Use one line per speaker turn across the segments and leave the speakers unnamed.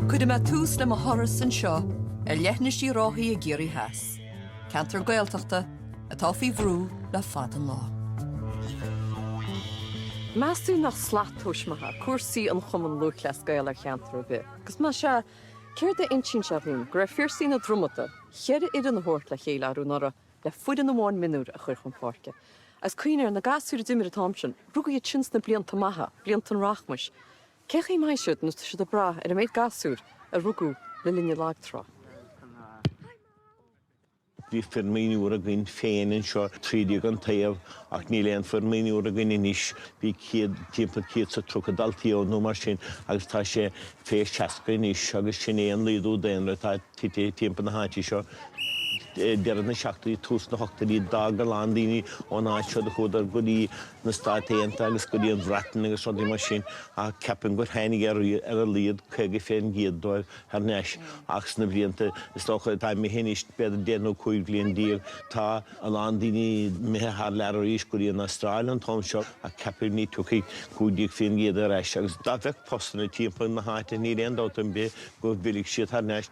Cuirfidh mé tús le mo thuras anseo ar leithinis Uí Ráthaigh i gCiarraí Theas, ceantar Gaeltachta atá faoi bhrú le fada an lá. Meas tú nach slat tomhais maith ea cúrsaí an Chumann Lúthchleas Gael ar cheantar ar bith? Agus más ea, céard a insíonn sé dhúinn go raibh Phiarsaigh na Dromada, cheithre fhoireann a thabhairt le chéile arú anuraidh le foireann amháin mionúr a chur chun páirce? Agus cuimhnigh ar na gasúir a d'imir an t-am sin, rugadh iad sin sna blianta maithe, blianta an rachmais, Cé chaoi mbeidh siad nó tá siad ag brath ar an méid gasúr a rugadh le linn an lagtrá. Bhí foireann mionúr againn féin anseo trí déag an taobh ach níl aon foireann mionúr againn anois. Bhí céad, timpeall céad is tríocha dalta ann nó mar sin agus tá sé fé seasca anois agus sin é an laghdú daonra atá tite timpeall na háite seo. Deireadh na seachtóidí, tús na hochtóidí d'fhág a lán daoine ón áit seo, do chuadar go dtí. na Stáit Aontaithe agus go dtí an Bhreatain agus rudaí mar sin ach ceapaim gur tháinig ar a laghad 50% díobh thar n-ais ach sna blianta is dócha atá imithe anois, b'fhéidir deich nó cúig bhliain déag, tá a lán daoine imithe thar lear arís go dtí an Astráil an t-am seo ach ceapaim ní tiocfaidh 15% ar ais agus dá mbeadh postanna timpeall na háite níl aon dabht ar bith go bhfillfidh siad thar n-ais.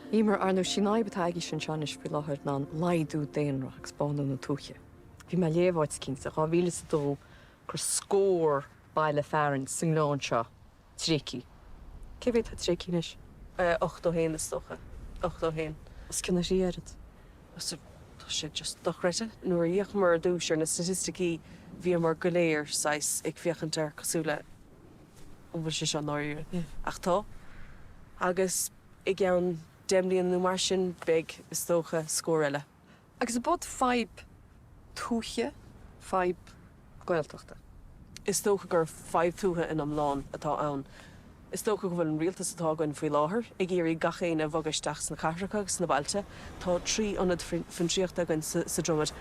Ní mar ar ndóigh sin í an fhadhb atá agaibhse anseo anois faoi láthair ná an laghdú daonra agus bánú na tuaithe. Bhí mé ag léamh áit eicínt i 2002 gur scór baile fearainn sa ngleann seo tréigthe. Cé mhéad atá tréigthe anois? Eh, ochtó haon is dócha. Ochtó haon. Os cionn a thrí oiread. Sea, tá sé just dochreidte. Nuair a fhéachamar ar dtúis ar na staitisticí bhíomar go léir saghas ag féachaint air cosúil le an bhfuil sé seo ndáiríre? Ach tá. Agus. I gceann deich mbliana nó mar sin, beidh, is dócha, scór eile. Agus an, ab, fadhb tuaithe, fadhb Gaeltachta? Is dócha gur fadhb tuaithe in iomlán atá ann. Is dócha go bhfuil an rialtas atá againn faoi láthair ag iarraidh gach éinne a bhogadh isteach sna cathracha agus sna bailte. Tá trí ionad fiontraíochta againn sa Dromaid,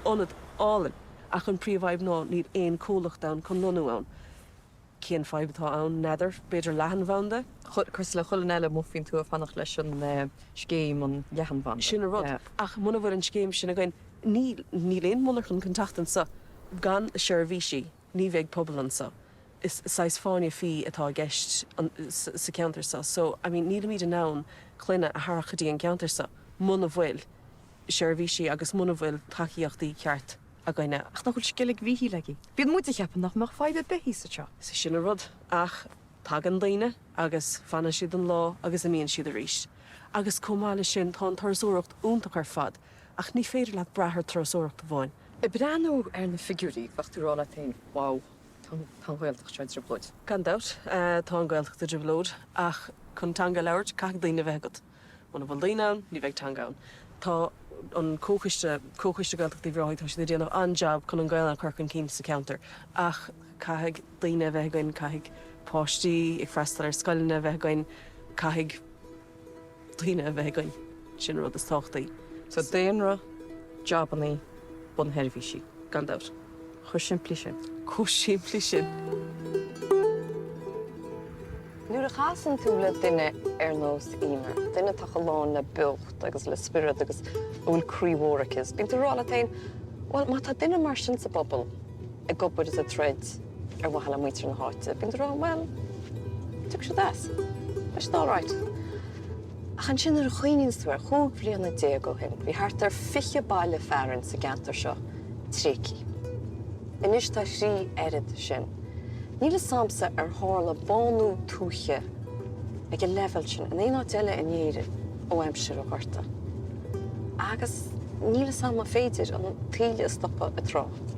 ionad álainn, ach an príomh-fhadhb ná níl aon comhlacht ann chun lonnú ann. Cén fadhb atá ann? N'fheadar. B'fhéidir leathanbhanda? Cosúil le chuile áit eile amuigh faoin tuath, fanacht leis an scéim, an leathanbhanda. Sin an rud. Ach muna bhfuil an scéim sin againn, níl aon mhonarcha chun teacht anseo. Gan seirbhísí, ní bheidh pobal anseo. Is saghas fáinne fí atá i gceist sa cheantar seo. So, I mean, nílimid in ann clainne a tharrac go dtí an ceantar seo muna bhfuil seirbhísí agus muna bhfuil tacaíochtaí ceart. againne, ach ach bhfuil Sceilg Mhichíl againn. Bíonn muid ag ceapadh nach mbeadh fadhb ar bith thíos anseo. Is é sin an rud. Ach tagann daoine agus fanann siad an lá agus imíonn siad arís. Agus chomh maith leis sin, tá an turasóireacht iontach ar fad, ach ní féidir leat brath ar thurasóireacht amháin. Ag breathnú ar na figiúirí, bheadh tú ag rá leat féin, wow, tá an Ghaeltacht seo i dtrioblóid. Gan dabht, tá an Ghaeltacht i dtrioblóid, ach chun teanga a labhairt, caithfidh daoine a bheith agat. Muna bhfuil daoine ann, ní bheidh teanga ann. Tá an comhchoiste, Comhchoiste Gaeltachta Uíbh Ráthaigh, tá siad ag déanamh an-jab chun an Ghaelainn a chur chun cinn sa cheantar ach caithfidh daoine a bheith againn, caithfidh páistí ag freastal ar scoileanna a bheith againn, caithfidh daoine a bheith againn. Sin an rud is tábhachtaí. So daonra, jabannaí, bunsheirbhísí, gan dabht. chomh simplí sin. chomh simplí sin. Nuair a chasann tú le duine ar nós Eimear, duine atá chomh lán le beocht agus le spiorad agus a bhfuil croí mór aici, bíonn tú ag rá leat féin, bhuel, má tá duine mar sin sa bpobal ag obair is ag troid ar mhaithe le muintir na háite, bíonn tú ag rá, bhuel, tiocfaidh siad as. Beidh siad alright. Ach ansin nuair a chuimhníonn tú air, chúig bhliana déag ó shin, bhí thart ar fiche baile fearainn sa gceantar seo, tréigthe. Anois tá thrí oiread sin. Níl fhios a'msa ar tharla bánú tuaithe ag an leibhéal sin in aon áit eile in Éirinn ó aimsir an Ghorta. Agus níl fhios a'm an féidir an taoille a stopadh i dtráth.